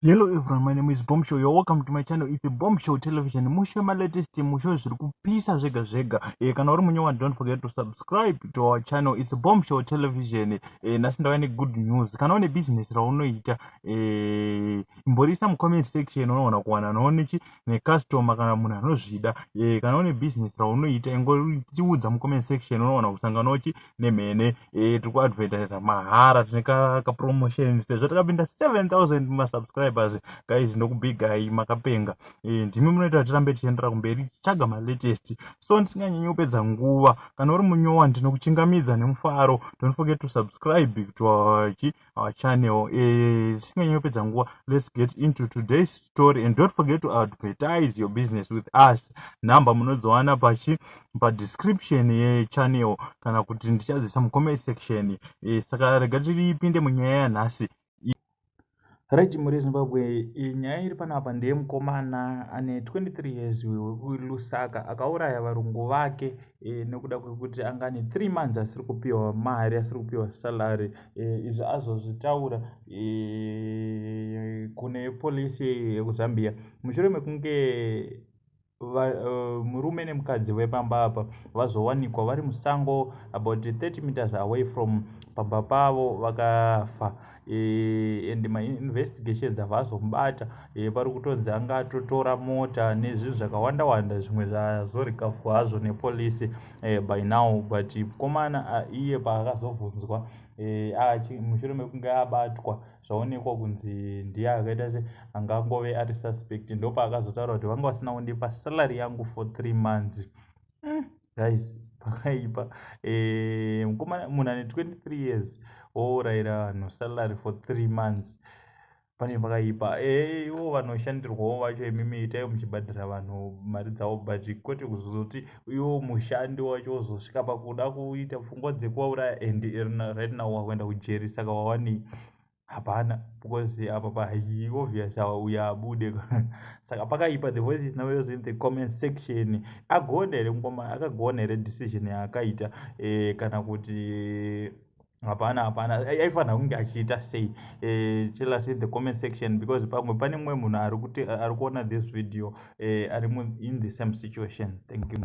Hello everyone, my name is Bombshow. You're welcome to my channel. It's Bombshow Television. Mushe ma latest mushe zviri kupisa zvega zvega. Eh kana uri munyewa don't forget to subscribe to our channel. It's Bombshow Television. Eh nasi ndava ne good news. Kana une business raunoita eh imborisa mu comment section unoona kuwana noone chi ne customer kana munhu anozvida. Eh kana une business raunoita ingoriudza mu comment section unoona kusangana uchi nemhene eh, tiri kuadvertisa mahara tine kapromotion sezvo takapinda 7000 masubscribers guys ndokubigai makapenga eh, ndimi munoita kuti tirambe tichiendera kumberi tichitsvaga malatest so ndisinganyanyi kupedza nguva kana uri munyowa ndinokuchingamidza nemufaro don't forget to subscribe to our our channel eh, tisinganyi uh, kupedza nguva let's get into today's story and don't forget to advertise your business with us number munodziwana pachi padescription yechannel kana kuti ndichadzisa mucomment section eh, saka rega tiripinde munyaya yanhasi Right, Mhuri Zimbabwe, eh, nyaya iri panapa ndeye mukomana ane 23 years wekuLusaka akauraya varungu vake e, nekuda kwekuti angani 3 months asiri kupiwa mari asiri kupiwa salary eh, izvi azozvitaura eh, kune polisi yekuzambia mushure mekunge va, uh, murume nemukadzi vepamba apa vazowanikwa vari musango about 30 meters away from pamba pavo vakafa e, and mainvestigations ava azomubata e, eh, pari kutonzi anga atotora mota nezvinhu zvakawanda wanda zvimwe zvazorikavhwa hazvo nepolisi eh, by now but mkomana uh, iye paakazobvunzwa eh, achi mushure mekunge abatwa zvaonekwa kunzi ndiye akaita se angangove ari suspect ndopaakazotaura kuti vanga vasina kundipa salary yangu for three months mm, guys pakaipa eh, mkomana munhu ane 23 years wourayira vanhu salary for three months pane pakaipa eh, ivo vanoshandirwawo vacho imimi itai muchibhadhira vanhu mari dzavo bhaji kwete kuzozoti iwo mushandi wacho wozosvika pakuda kuita pfungwa dzekuvauraya and right now wakuenda kujeri saka wawanei hapana because apa pahi obvious awa uya abude saka pakaipa the voice is now yours in the comment section agona here mukoma akagona here decision yaakaita eh, kana kuti hapana hapana aifanira kunge achiita sei eh, tell us in the comment section because pamwe pane mumwe munhu ari kuona this video eh, ari in the same situation thank you